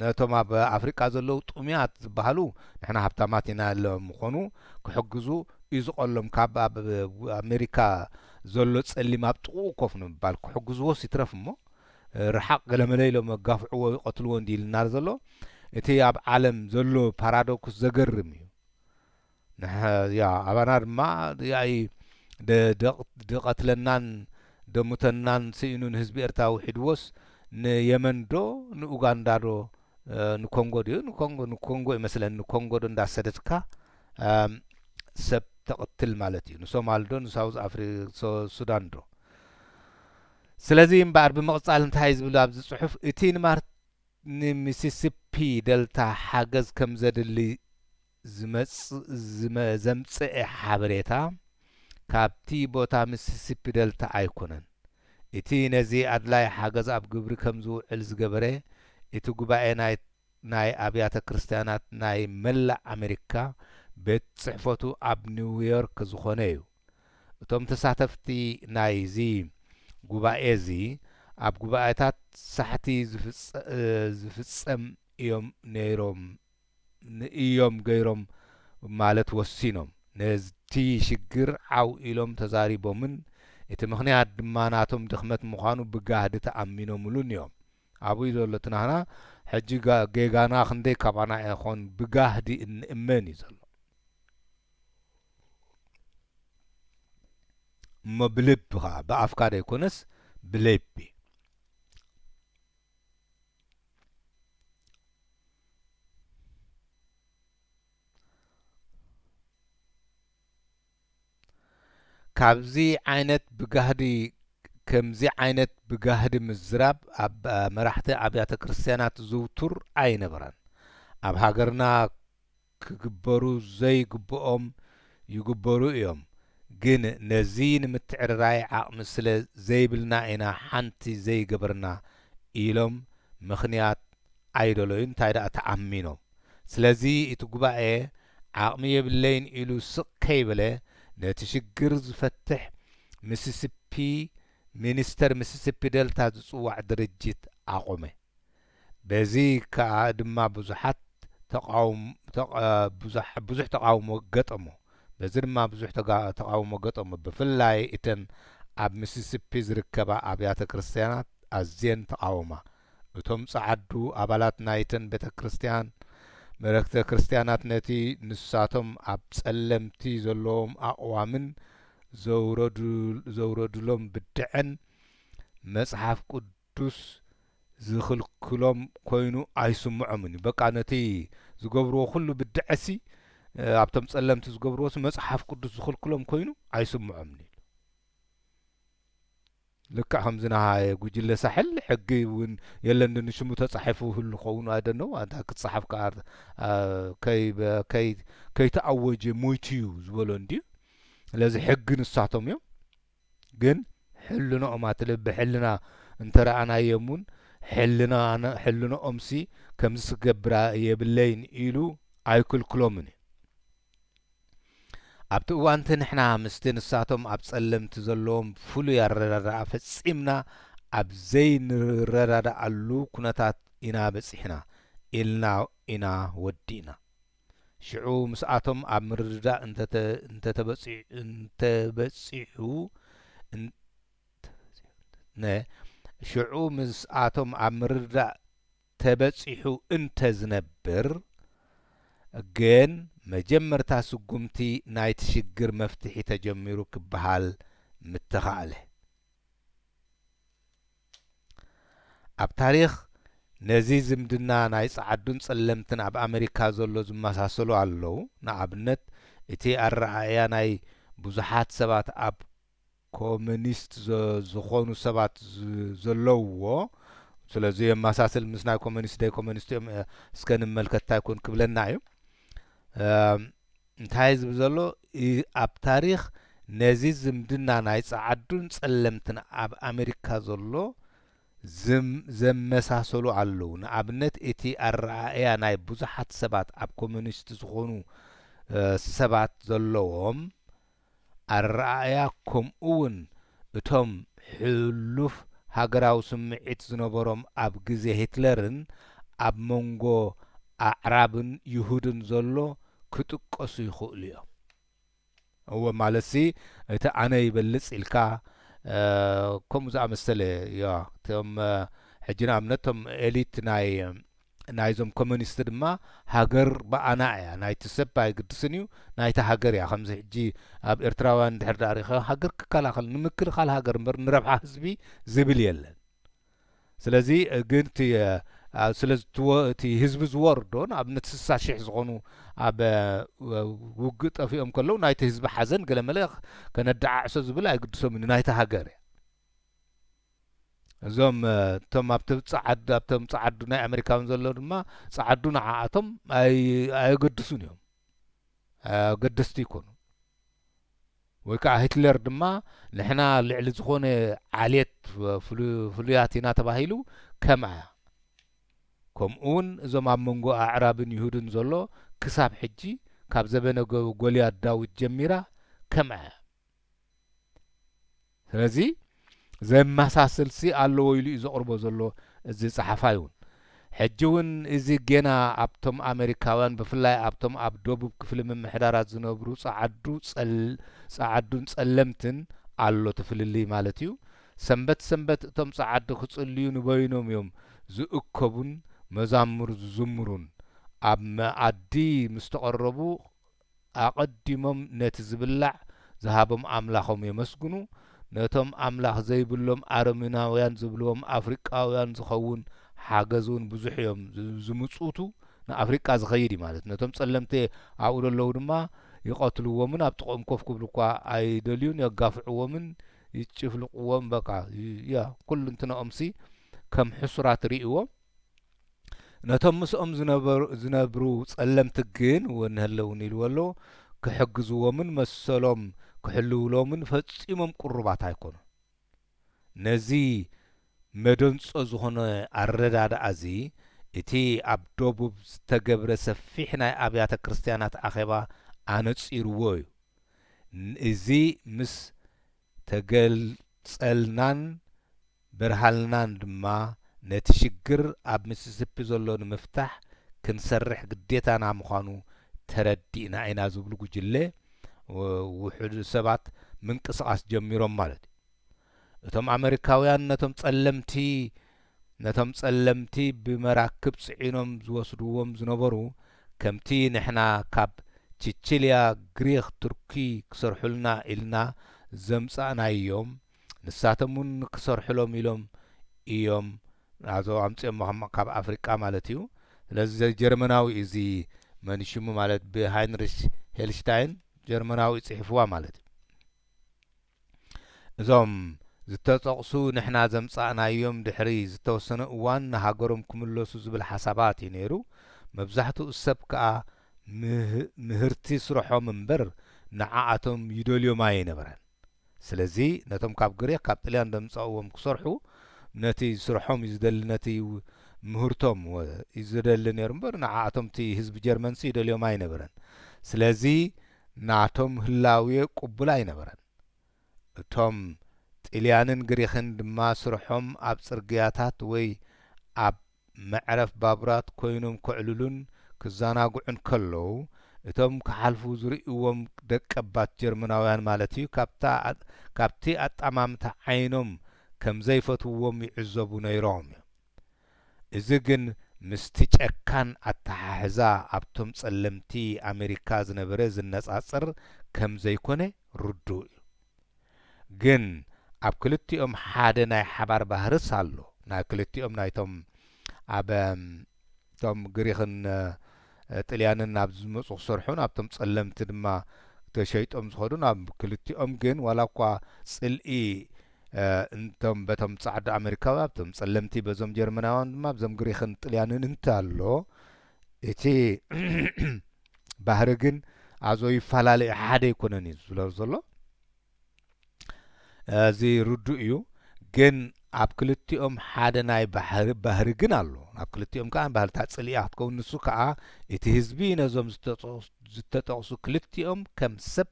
ነቶም ኣብ ኣፍሪቃ ዘለዉ ጥሙያት ዝበሃሉ ንሕና ሃብታማት ኢና ኢሎም ምኾኑ ክሕግዙ እዩ ዝቐሎም ካብ ኣብ ኣሜሪካ ዘሎ ጸሊም ኣብ ጥቕኡ ኮፍ ንምባል ክሕግዝዎስ ይትረፍ እሞ ርሓቕ ገለመለ ኢሎም ኣጋፍዕዎ ይቐትልዎ እንዲዩ ኢልናር ዘሎ እቲ ኣብ ዓለም ዘሎ ፓራዶክስ ዘገርም እዩ ንሕ ያ ኣባና ድማ ያኢ ደ ድ ቀትለናን ደ ሙተናን ስኢኑ ንህዝቢ ኤርትራ ውሒድዎስ ን የመን ዶ ን ኡጋንዳ ዶ ን ኮንጎ ድዩ ን ኮንጎ ን ኮንጎ እዩ መስለኒ ን ኮንጎ ዶ እንዳ ሰደድካ ሰብ ተቅትል ማለት እዩ ን ሶማል ዶ ን ሳውዝ ኣፍሪ ሶ ሱዳን ዶ ስለዚ እምበኣር ብምቅጻል እንታይ ዝብል ኣብዚ ጽሑፍ እቲ ን ማር ን ሚሲሲፒ ደልታ ሓገዝ ከም ዘድሊ ዝመጽእ ዘምጽኤ ሓበሬታ ካብቲ ቦታ ሚሲሲፒ ደልታ ኣይኮነን። እቲ ነዚ ኣድላይ ሓገዝ ኣብ ግብሪ ከም ዝውዕል ዝገበረ እቲ ጉባኤ ናይ ናይ ኣብያተ ክርስትያናት ናይ መላእ ኣመሪካ ቤት ጽሕፈቱ ኣብ ኒውዮርክ ዝኾነ እዩ። እቶም ተሳተፍቲ ናይዚ ጉባኤ እዚ ኣብ ጉባኤታት ሳሕቲ ዝፍጸም እዮም ነይሮም ንእዮም ገይሮም ማለት ወሲኖም ነቲ ሽግር ዓው ኢሎም ተዛሪቦምን እቲ ምኽንያት ድማ ናቶም ድኽመት ምዃኑ ብጋህዲ ተኣሚኖምሉን እዮም ኣቡይ ዘሎ እቲ ናህና ሕጂ ጌጋና ክንደይ ካባና ኢኾን ብጋህዲ እንእመን እዩ ዘሎ እሞ ብልቢ ከኣ ብኣፍካ ዘይኮነስ ብሌቢ። ካብዚ ዓይነት ብጋህዲ ከምዚ ዓይነት ብጋህዲ ምዝራብ ኣብ መራሕቲ ኣብያተ ክርስትያናት ዝውቱር ኣይነበረን። ኣብ ሃገርና ክግበሩ ዘይግብኦም ይግበሩ እዮም ግን ነዚ ንምትዕርራይ ዓቕሚ ስለ ዘይብልና ኢና ሓንቲ ዘይገበርና ኢሎም ምኽንያት ኣይደለዩን ታይ ደኣ ተኣሚኖም ስለዚ እቲ ጉባኤ ዓቕሚ የብለይን ኢሉ ስቕ ከይበለ ነቲ ሽግር ዝፈትሕ ሚሲሲፒ ሚኒስተር ሚሲሲፒ ደልታ ዝፅዋዕ ድርጅት ኣቖመ። በዚ ከኣ ድማ ብዙሓት ብዙሕ ተቓውሞ ገጠሞ። በዚ ድማ ብዙሕ ተቓውሞ ገጠሞ። ብፍላይ እተን ኣብ ሚሲሲፒ ዝርከባ ኣብያተ ክርስትያናት ኣዝየን ተቓወማ። እቶም ጸዓዱ ኣባላት ናይተን ቤተ ክርስትያን መለክተ ክርስትያናት ነቲ ንሳቶም ኣብ ጸለምቲ ዘለዎም ኣቕዋምን ዘውረዱሎም ብድዐን መጽሓፍ ቅዱስ ቅዱስ ዝኽልክሎም ኮይኑ ኣይስምዖምን እዩ በቃ ነቲ ዝገብርዎ ኩሉ ብድዐሲ ኣብቶም ጸለምቲ ዝገብርዎሲ መጽሓፍ ቅዱስ ዝኽልክሎም ኮይኑ ኣይስምዖምን ኢሉ። ልክዕ ከምዚ ነሃየ ጉጅለ ሳሕል ሕጊ እውን የለን ዶ ንሽሙ ተጻሒፉ ይህሉ ኸውን ኣይደነው ኣንታ ክጸሓፍ ከኣ ከይተኣወጀ ሞይቱ እዩ ዝበሎ እንድዩ ስለዚ ሕጊ ንሳቶም እዮም ግን ሕልንኦም ኣትልብ ሕልና እንተ ረኣናዮም ውን ሕልና ሕልንኦምሲ ከምዚ ክገብራ የብለይን ኢሉ ኣይክልክሎምን እዩ። ኣብቲ እዋንቲ ንሕና ምስቲ ንሳቶም ኣብ ጸለምቲ ዘለዎም ፍሉይ ኣረዳድኣ ፈጺምና ኣብ ዘይንረዳድኣሉ ኩነታት ኢና በጺሕና ኢልና ኢና ወዲእና። ሽዑ ምስኣቶም ኣብ ምርድዳእ እንተተበጺሑ ን ሽዑ ምስኣቶም ኣብ ምርድዳእ ተበጺሑ እንተዝነብር ግን መጀመርታ ስጉምቲ ናይቲ ሽግር መፍትሒ ተጀሚሩ ክበሃል ምተኻእለ። ኣብ ታሪኽ ነዚ ዝምድና ናይ ጸዓዱን ጸለምትን ኣብ ኣመሪካ ዘሎ ዝመሳሰሉ ኣለዉ። ንኣብነት እቲ ኣረኣእያ ናይ ብዙሓት ሰባት ኣብ ኮመኒስት ዝኾኑ ሰባት ዘለዉዎ ስለ ዘየመሳስል ምስ ናይ ኮመኒስት ደይኮመኒስት እዮም እስከ ንመልከት እንታይ ኮን ክብለና እዩ። እንታይ ዝብል ዘሎ ኣብ ታሪኽ ነዚ ዝምድና ናይ ጸዓዱን ጸለምትን ኣብ ኣመሪካ ዘሎ ዝም ዘመሳሰሉ ኣለዉ ንኣብነት እቲ ኣረኣእያ ናይ ብዙሓት ሰባት ኣብ ኮሚኒስት ዝኾኑ ሰባት ዘለዎም ኣረኣእያ ከምኡ'ውን እቶም ሕሉፍ ሃገራዊ ስምዒት ዝነበሮም ኣብ ግዜ ሂትለርን ኣብ መንጎ ኣዕራብን ይሁድን ዘሎ ክጥቀሱ ይኽእሉ እዮም። እወ ማለትሲ እቲ ኣነ ይበልጽ ኢልካ ከምኡ ዝኣመሰለ እዮ። እቶም ሕጂ ንኣብነት እቶም ኤሊት ናይ። ናይዞም ኮሚኒስት ድማ ሃገር ብኣና ኢያ ናይቲ ሰብ ኣይግድስን ኢዩ ናይታ ሃገር ኢያ ከምዚ ሕጂ ኣብ ኤርትራውያን እንድሕር ድኣ ሪኢኻ ሃገር ክከላኸል ንምክልኻል ሃገር እምበር ንረብሓ ህዝቢ ዝብል የለን ስለዚ ግን እቲ ስለ እቲ ህዝቢ ዝወርዶ ንኣብነት ስሳ ሽሕ ዝኾኑ ኣብ ውግእ ጠፊኦም ከለዉ ናይቲ ህዝቢ ሓዘን ገለመለ ከነደዓዕሶ ዝብል ኣይግድሶምን ናይታ ሃገር ኢያ እዞም እቶም ኣብቲ ጸዓዱ ኣብቶም ጸዓዱ ናይ ኣሜሪካውን ዘሎ ድማ ጸዓዱ ንዓኣቶም ኣየገድሱን እዮም ኣገደስቲ ይኮኑ ወይ ከዓ ሂትለር ድማ ንሕና ልዕሊ ዝኾነ ዓሌት ፍሉያት ኢና ተባሂሉ ከምኣ ከምኡውን እዞም ኣብ መንጎ ኣዕራብን ይሁድን ዘሎ ክሳብ ሕጂ ካብ ዘበነ ጎልያድ ዳዊት ጀሚራ ከምኣ ስለዚ ዘመሳስልሲ ኣለዎ ኢሉ እዩ ዘቕርቦ ዘሎ እዚ ጸሓፋይ እውን። ሕጂ እውን እዚ ጌና ኣብቶም ኣመሪካውያን ብፍላይ ኣብቶም ኣብ ደቡብ ክፍሊ ምምሕዳራት ዝነብሩ ጸዓዱ ጸዓዱን ጸለምትን ኣሎ እቲ ፍልልይ ማለት እዩ። ሰንበት ሰንበት እቶም ጸዓዱ ክጽልዩ ንበይኖም እዮም ዝእከቡን መዛሙር ዝዝምሩን። ኣብ መኣዲ ምስ ተቐረቡ ኣቐዲሞም ነቲ ዝብላዕ ዝሃቦም ኣምላኾም የመስግኑ፣ ነቶም ኣምላኽ ዘይብሎም ኣረሜናውያን ዝብልዎም ኣፍሪቃውያን ዝኸውን ሓገዝ እውን ብዙሕ እዮም ዝምጽውቱ፣ ንኣፍሪቃ ዝኸይድ እዩ ማለት፣ ነቶም ጸለምቲ ኣብኡ ዘለዉ ድማ ይቐትልዎምን ኣብ ጥቕኦም ኮፍ ክብሉ እኳ ኣይደልዩን፣ የጋፍዕዎምን ይጭፍልቕዎምን፣ በቃ፣ ያ፣ ኩልንትናኦምሲ ከም ሕሱራት ርእይዎም፣ ነቶም ምስኦም ዝነብሩ ጸለምቲ ግን ወንሀለውኒ ኢልዎ ኣሎ፣ ክሕግዝዎምን መሰሎም ክሕልውሎምን ፈጺሞም ቅሩባት ኣይኮኑን። ነዚ መደንጾ ዝኾነ ኣረዳድኣ'ዚ እቲ ኣብ ደቡብ ዝተገብረ ሰፊሕ ናይ ኣብያተ ክርስትያናት ኣኼባ ኣነጺርዎ እዩ። እዚ ምስ ተገልጸልናን፣ ብርሃልናን ድማ ነቲ ሽግር ኣብ ሚሲሲፒ ዘሎ ንምፍታሕ ክንሰርሕ ግዴታና ምዃኑ ተረዲእና ኢና ዝብሉ ጉጅለ ውሑድ ሰባት ምንቅስቓስ ጀሚሮም ማለት እዩ። እቶም ኣመሪካውያን ነቶም ጸለምቲ ነቶም ጸለምቲ ብመራክብ ጽዒኖም ዝወስድዎም ዝነበሩ ከምቲ ንሕና ካብ ቺቺልያ ግሪኽ ቱርኪ ክሰርሑልና ኢልና ዘምጻእናዮም ንሳቶም ውን ክሰርሑሎም ኢሎም ኢዮም ናዞ ኣምጺኦሞ ካብ ኣፍሪቃ ማለት ኢዩ ስለዚ ዘይ ጀርመናዊ ኢዩ እዚ መን ሽሙ ማለት ብ ሃይንሪሽ ሄልሽታይን ጀርመናዊ ኢዩ ጺሒፍዋ ማለት ኢዩ እዞም ዝተጠቕሱ ንሕና ዘምጻእናዮም ድሕሪ ዝተወሰነ እዋን ንሃገሮም ክምለሱ ዝብል ሓሳባት ኢዩ ነይሩ መብዛሕትኡ ሰብ ከኣ ምህርቲ ስርሖም እምበር ንዓኣቶም ይደልዮም ኣይ ነበረን። ስለዚ ነቶም ካብ ግሪኽ ካብ ጥልያን ዘምጻእዎም ክሰርሑ ነቲ ስርሖም እዩ ዝደሊ ነቲ ምህርቶም እዩ ዝደሊ ነሩ እምበር ንዓኣቶም እቲ ህዝቢ ጀርመንሲ ይደልዮም ኣይነበረን ስለዚ ናቶም ህላዌ ቁቡል ኣይነበረን እቶም ጥልያንን ግሪኽን ድማ ስርሖም ኣብ ጽርግያታት ወይ ኣብ መዕረፍ ባቡራት ኮይኖም ከዕልሉን ክዘናግዑን ከለው እቶም ክሓልፉ ዝርእይዎም ደቀባት ጀርመናውያን ማለት እዩ ካብታ ካብቲ ኣጠማምታ ዓይኖም ከም ዘይፈትውዎም ይዕዘቡ ነይሮም እዮም እዚ ግን ምስቲ ጨካን ኣተሓሕዛ ኣብቶም ጸለምቲ ኣመሪካ ዝነበረ ዝነጻጸር ከም ዘይኮነ ርዱእ እዩ ግን ኣብ ክልቲኦም ሓደ ናይ ሓባር ባህርስ ኣሎ ናይ ክልቲኦም ናይቶም ኣብ እቶም ግሪኽን ጥልያንን ናብ ዝመጹ ክሰርሑን ኣብቶም ጸለምቲ ድማ ተሸይጦም ዝኸዱን ኣብ ክልቲኦም ግን ዋላ እኳ ጽልኢ እንቶም በቶም ጻዕዱ ኣመሪካዊ ኣብቶም ጸለምቲ በዞም ጀርመናውያን ድማ ኣብዞም ግሪኽን ጥልያንን እንተ ኣሎ እቲ ባህሪ ግን ኣዞ ይፈላለ እዩ ሓደ ኣይኮነን እዩ ዝብሎ ዘሎ እዚ ርዱእ እዩ ግን ኣብ ክልቲኦም ሓደ ናይ ባህሪ ባህሪ ግን ኣሎ ኣብ ክልቲኦም ከዓ ባህልታት ፅልኢ ክትከውን ንሱ ከዓ እቲ ህዝቢ ነዞም ዝተጠቕሱ ክልቲኦም ከም ሰብ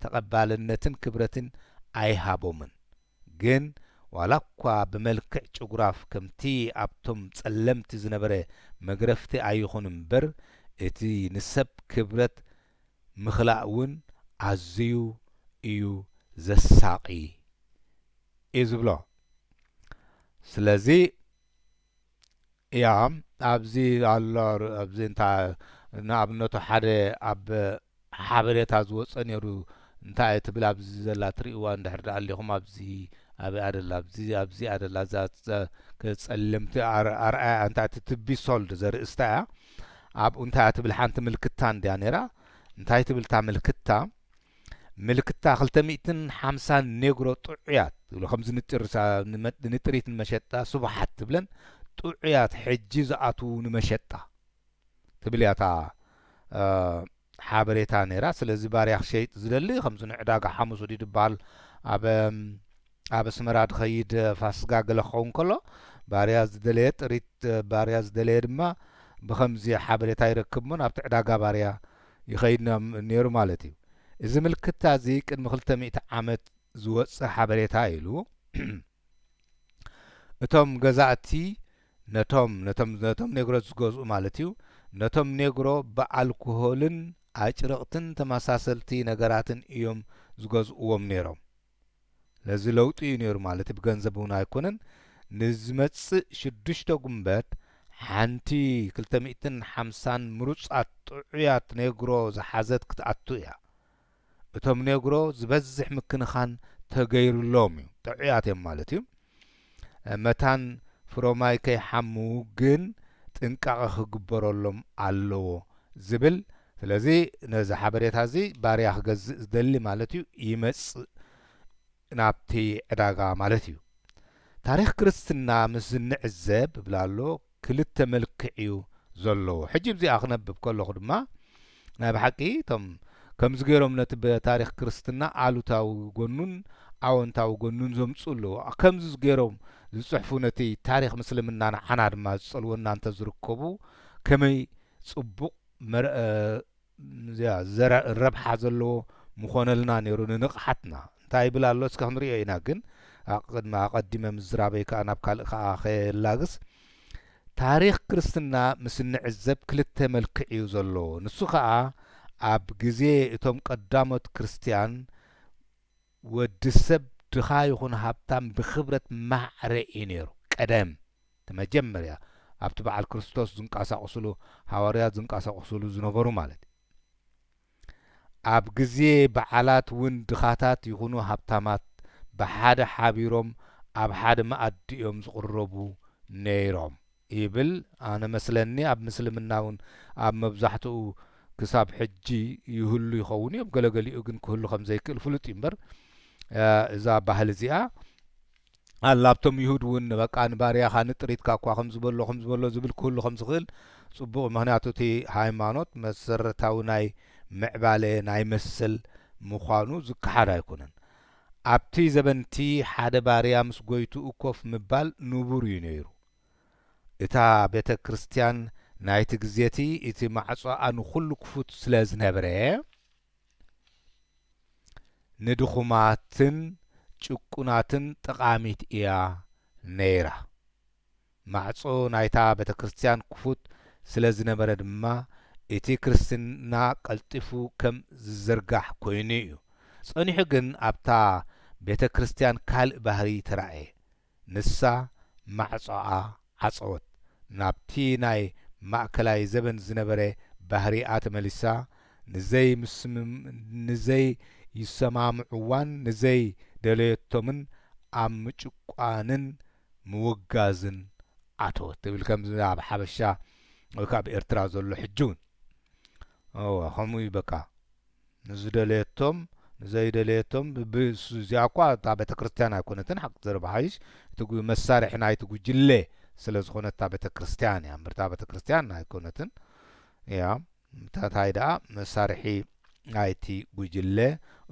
ተቐባልነትን ክብረትን ኣይሃቦምን ግን ዋላኳ ብመልክዕ ጭጉራፍ ከምቲ ኣብቶም ጸለምቲ ዝነበረ መግረፍቲ ኣይኹን እምበር እቲ ንሰብ ክብረት ምኽላእ ውን ኣዝዩ እዩ ዘሳቒ እዩ ዝብሎ ስለዚ እያ ኣብዚ ኣሎ ኣብዚ እንታይ ንኣብነቱ ሓደ ኣብ ሓበሬታ ዝወጸ ኔሩ እንታይ እያ ትብል ኣብዚ ዘላ ትርእይዋ እንድሕር ድኣ ኣሊኹም ኣብዚ ኣበይ እያ ደላ ኣብዚ ኣብዚ እያ ደላ እዛ እዛ ጸለምቲ ኣር ኣርኣያ እንታይ እቲ ትቢ ሶልድ ዘርእስታ እያ ኣብኡ እንታይ እያ ትብል ሓንቲ ምልክታ እንድያ ኔራ እንታይ ትብል እታ ምልክታ ምልክታ ክልተ ሚእትን ሓምሳን ኔግሮ ጥዑያት ዝብሎ ከምዚ ንጥርሳ ንጥሪት ንመሸጣ ስቡሓት ትብለን ጥዑያት ሕጂ ዝኣትዉ ንመሸጣ ትብል እያ እታ ሓበሬታ ነይራ ስለዚ ባርያ ክሸይጥ ዝደሊ ከምዚ ንዕዳጋ ሓሙስ ወዲድ ዝበሃል ኣብ ኣብ ኣስመራ ድኸይድ ፋስጋ ገለ ክኸውን ከሎ ባርያ ዝደለየ ጥሪት ባርያ ዝደለየ ድማ ብኸምዚ ሓበሬታ ይረክብ እሞ ናብቲ ዕዳጋ ባርያ ይኸይድ ነይሩ ማለት እዩ። እዚ ምልክታ እዚ ቅድሚ ክልተ ሚእቲ ዓመት ዝወጸ ሓበሬታ እዩ ኢሉ። እቶም ገዛእቲ ነቶም ነቶም ነቶም ኔግሮት ዝገዝኡ ማለት እዩ ነቶም ኔግሮ ብኣልኮሆልን ኣጭርቕትን ተመሳሰልቲ ነገራትን እዮም ዝገዝእዎም ነይሮም። ነዚ ለውጢ እዩ ነይሩ ማለት ብገንዘብ እውን ኣይኮነን ንዝመጽእ ሽዱሽተ ጉንበት ሓንቲ ክልተ ሚእትን ሓምሳን ምሩጻት ጥዑያት ኔግሮ ዝሓዘት ክትኣቱ እያ እቶም ኔግሮ ዝበዝሕ ምክንኻን ተገይርሎም እዩ ጥዑያት እዮም ማለት እዩ መታን ፍሮማይ ከይሓሙ ግን ጥንቃቐ ክግበረሎም ኣለዎ ዝብል ስለዚ ነዚ ሓበሬታ እዚ ባርያ ክገዝእ ዝደሊ ማለት እዩ ይመጽእ ናብቲ ዕዳጋ ማለት እዩ ታሪኽ ክርስትና ምስ ዝንዕዘብ ብላሎ ክልተ መልክዕ እዩ ዘለዎ ሕጂ ብዚኣ ክነብብ ከለኹ ድማ ናይ ብሓቂ እቶም ከምዚ ገሮም ነቲ በታሪኽ ክርስትና ኣሉታዊ ጎኑን ኣወንታዊ ጎኑን ዘምጽኡ ኣለዉ ከምዚ ገሮም ዝጽሕፉ ነቲ ታሪኽ ምስልምና ንዓና ድማ ዝጸልወና እንተ ዝርከቡ ከመይ ጽቡቕ ረብሓ ዘለዎ ምኾነልና ኔሩ ንንቕሓትና። እንታይ ይብል ኣሎ እስከ ክንሪኦ ኢና ግን ኣቐዲመ ምዝራበይ ከኣ ናብ ካልእ ከኣ ከላግስ ታሪኽ ክርስትና ምስ እንዕዘብ ክልተ መልክዕ እዩ ዘለዎ ንሱ ከኣ ኣብ ግዜ እቶም ቀዳሞት ክርስትያን ወድሰብ ድኻ ይኹን ሃብታም ብክብረት ማዕረ እዩ ነይሩ። ቀደም፣ እቲ መጀመርያ ኣብቲ በዓል ክርስቶስ ዝንቀሳቕሱሉ፣ ሃዋርያት ዝንቀሳቕሱሉ ዝነበሩ ማለት እዩ። ኣብ ግዜ በዓላት እውን ድኻታት ይኹኑ ሃብታማት ብሓደ ሓቢሮም ኣብ ሓደ መኣዲ እዮም ዝቕረቡ ነይሮም። ይብል ኣነ መስለኒ ኣብ ምስልምና ውን ኣብ መብዛሕትኡ ክሳብ ሕጂ ይህሉ ይኸውን እዮም ገለገሊኡ ግን ክህሉ ከም ዘይክእል ፍሉጥ እዩ እምበር እዛ ባህሊ እዚኣ ኣላ ኣብቶም ይሁድ ውን በቃ ንባርያኻ ንጥሪትካ እኳ ከም ዝበሎ ከም ዝበሎ ዝብል ክህሉ ከም ዝኽእል ጽቡቕ እዩ ምክንያቱ እቲ ሃይማኖት መሰረታዊ ናይ ምዕባለ ናይ መሰል ምዃኑ ዝከሓድ ኣይኮነን ኣብቲ ዘበንቲ ሓደ ባርያ ምስ ጎይትኡ ኮፍ ምባል ንቡር እዩ ነይሩ እታ ቤተ ክርስቲያን ናይቲ ግዜ እቲ እቲ ማዕጾኣ ንዅሉ ክፉት ስለ ዝነበረ፣ ንድኹማትን ጭቁናትን ጠቓሚት ኢያ ነይራ። ማዕጾ ናይታ ቤተ ክርስቲያን ክፉት ስለ ዝነበረ ድማ እቲ ክርስትና ቀልጢፉ ከም ዝዝርጋሕ ኰይኑ ኢዩ። ጸኒሑ ግን ኣብታ ቤተ ክርስቲያን ካልእ ባህርይ ተራእየ። ንሳ ማዕጾኣ ዓጸወት። ናብቲ ናይ ማእከላይ ዘበን ዝነበረ ባህሪኣ ተመሊሳ፣ ንዘይስምምንዘይሰማምዕዋን ንዘይደለየቶምን ኣብ ምጭቋንን ምውጋዝን ኣተወት ትብል። ከምዚ ኣብ ሓበሻ ወይ ከኣ ኣብ ኤርትራ ዘሎ ሕጂ እውን እወ ከምኡ እዩ በቃ ንዝደለየቶም ንዘይደለየቶም ብብ እዚኣኳ እታ ቤተክርስትያን ኣይኮነትን ሓቂ ተደባሓይሽ እቲ መሳርሒ ናይቲ ጉጅለ ስለ ዝኾነት እታ ቤተክርስትያን እያ እምበር እታ ቤተክርስትያን ኣይኮነትን እያ እንታይ ደኣ መሳርሒ ናይቲ ጉጅለ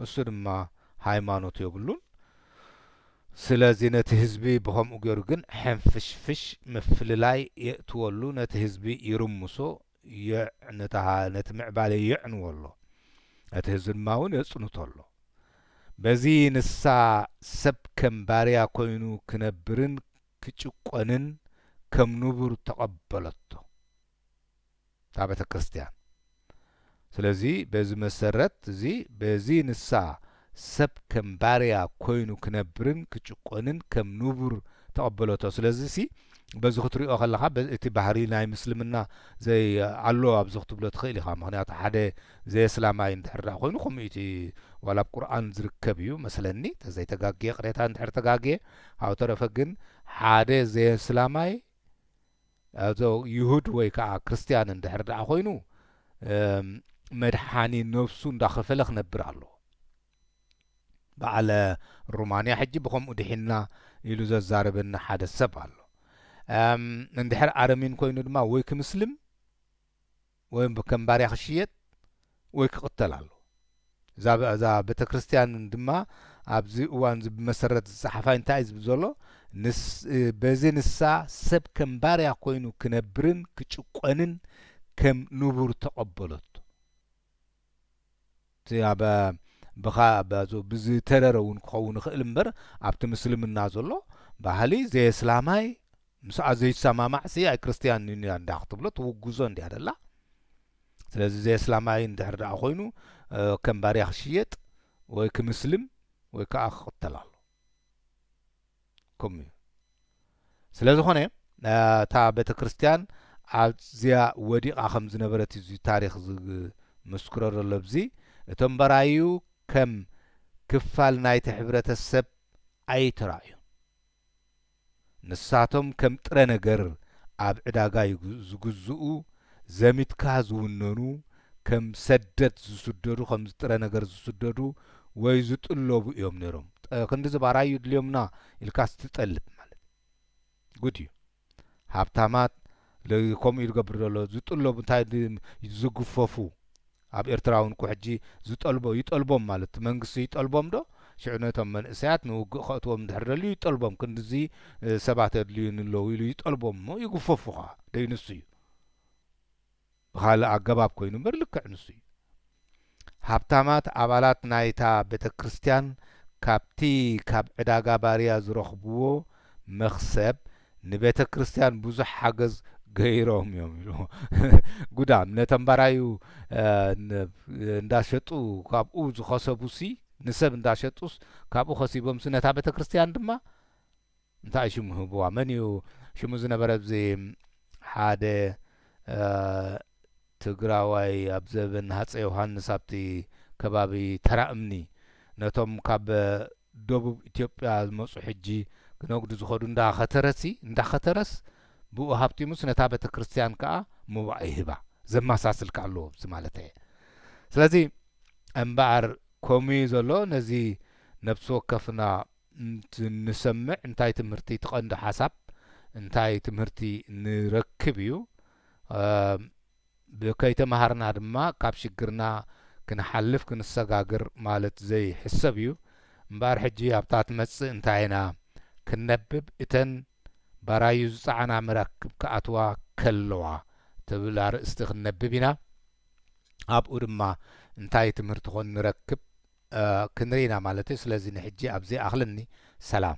እሱ ድማ ሃይማኖት የብሉን ስለዚ ነቲ ህዝቢ ብከምኡ ገይሩ ግን ሕንፍሽፍሽ ምፍልላይ የእትወሉ ነቲ ህዝቢ ይርምሶ የዕ ነታ ነቲ ምዕባሌ የዕንዎ ኣሎ፣ ነቲ ህዝቢ ድማ እውን የጽንቶ ኣሎ። በዚ ንሳ ሰብ ከም ባርያ ኮይኑ ክነብርን ክጭቆንን ከም ንቡር ተቐበለቶ እታ ቤተክርስትያን። ስለዚ በዚ መሰረት እዚ በዚ ንሳ ሰብ ከም ባርያ ኮይኑ ክነብርን ክጭቆንን ከም ንቡር ተቐበሎቶ። ስለዚሲ በዚ ክትሪኦ ከለኻ እቲ ባህሪ ናይ ምስልምና ዘይ ኣሎ ኣብዚ ክትብሎ ትኽእል ኢኻ። ምኽንያቱ ሓደ ዘየስላማይ እንድሕር ድኣ ኮይኑ ከምኡ እዩ እቲ ዋላ ኣብ ቁርኣን ዝርከብ እዩ መስለኒ ተዘይ ተጋግየ ቅሬታ እንድሕር ተጋግየ ካብኡ ተረፈ ግን ሓደ ዘየስላማይ ኣቶ ይሁድ ወይ ከኣ ክርስትያን እንድሕር ደኣ ኮይኑ መድሓኒ ነብሱ እንዳኸፈለ ክነብር ኣለዎ። በዓል ሩማንያ ሕጂ ብኸምኡ ድሒንና ኢሉ ዘዛርበኒ ሓደ ሰብ ኣሎ። እንድሕር ኣረሚን ኮይኑ ድማ ወይ ክምስልም ወይ ከም ባርያ ክሽየጥ ወይ ክቕተል ኣለዎ። እዛ እዛ ቤተክርስትያን ድማ ኣብዚ እዋን እዚ ብመሰረት ዝጸሓፋ እንታይ እዩ ዝብል ዘሎ ንስ በዚ ንሳ ሰብ ከም ባርያ ኮይኑ ክነብርን ክጭቆንን ከም ንቡር ተቐበለቶ። እቲ ኣብ ብኻ ብዝተረረ እውን ክኸውን ይኽእል እምበር ኣብቲ ምስልምና ዘሎ ባህሊ ዘየስላማይ ምስኣ ዘይሰማማዕ ሲ ኣይክርስትያን እዩ እንዳ ክትብሎ ትውግዞ እንድያ ደላ ስለዚ ዘየስላማይ እንድሕር ደኣ ኮይኑ ከም ባርያ ክሽየጥ ወይ ክምስልም ወይ ከዓ ክቕተል ኣሎ ኩም እዩ ስለ ዝኮነ እታ ቤተክርስትያን ኣዝያ ወዲቃ ከም ዝነበረት እዩ እዚ ታሪክ ዝምስክሮ ዘሎ እብዚ እቶም በራዩ ከም ክፋል ናይቲ ሕብረተ ሰብ ኣይተራእዩን ንሳቶም ከም ጥረ ነገር ኣብ ዕዳጋ ዝግዝኡ ዘሚትካ ዝውነኑ ከም ሰደት ዝስደዱ ከምዚ ጥረ ነገር ዝስደዱ ወይ ዝጥለቡ እዮም ነይሮም ጠ ክንድዚ ባራዩ ይድልዮምና ኢልካስ ትጠልብ ማለት ጉድ እዩ ሃብታማት ሎይ ከምኡ እዩ ዝገብር ዘሎ ዝጥለቡ እንታይ ዝግፈፉ ኣብ ኤርትራውን እኮ ሕጂ ዝጠልቦ ይጠልቦም ማለት መንግስቲ ይጠልቦም ዶ ሽዑ ነቶም መንእሰያት ንውግእ ከእትዎም እንድሕር ደልዩ ይጠልቦም ክንድዚ ሰባት የድልዩኒ ኣለዉ ኢሉ ይጠልቦም እሞ ይግፈፉ ከኣ ደይ ንሱ እዩ ብኻልእ ኣገባብ ኮይኑ እምበር ልክዕ ንሱ እዩ ሃብታማት ኣባላት ናይታ ቤተክርስትያን ካብቲ ካብ ዕዳጋ ባርያ ዝረኽብዎ መኽሰብ ንቤተ ክርስትያን ብዙሕ ሓገዝ ገይሮም እዮም ኢሉ ጉዳም ነቶም ባራዩ እንዳሸጡ ካብኡ ዝኸሰቡሲ ንሰብ እንዳሸጡስ ካብኡ ከሲቦምሲ ነታ ቤተ ክርስትያን ድማ እንታይ ሽሙ ህብዋ መን እዩ ሽሙ ዝነበረ ብዚ ሓደ ትግራዋይ ኣብ ዘበን ሃፀ ዮሃንስ ኣብቲ ከባቢ ተራ እምኒ ነቶም ካብ ደቡብ ኢትዮጵያ ዝመጹ ሕጂ ክነግዱ ዝኸዱ እንዳ ኸተረሲ እንዳ ኸተረስ ብኡ ሃብቲሙስ ነታ ቤተክርስትያን ከኣ ሞባእ ይህባ ዘማሳስል ከኣ ኣሎ እዚ ማለተየ ስለዚ እምበኣር ኮሙዩ ዘሎ ነዚ ነብሲ ወከፍና ንሰምዕ እንታይ ትምህርቲ እቲ ቀንዲ ሓሳብ እንታይ ትምህርቲ ንረክብ እዩ ከይተማሃርና ድማ ካብ ሽግርና ክንሓልፍ ክንሰጋግር ማለት ዘይሕሰብ እዩ እምበኣር ሕጂ ኣብታ ትመጽእ እንታይ ኢና ክንነብብ እተን ባራዩ ዝጸዓና መራክብ ክኣትዋ ከለዋ ትብል ኣርእስቲ ክንነብብ ኢና ኣብኡ ድማ እንታይ ትምህርቲ ኮን ንረክብ ክንርኢ ኢና ማለት እዩ ስለዚ ንሕጂ ኣብዚ ይኣኽለኒ ሰላም።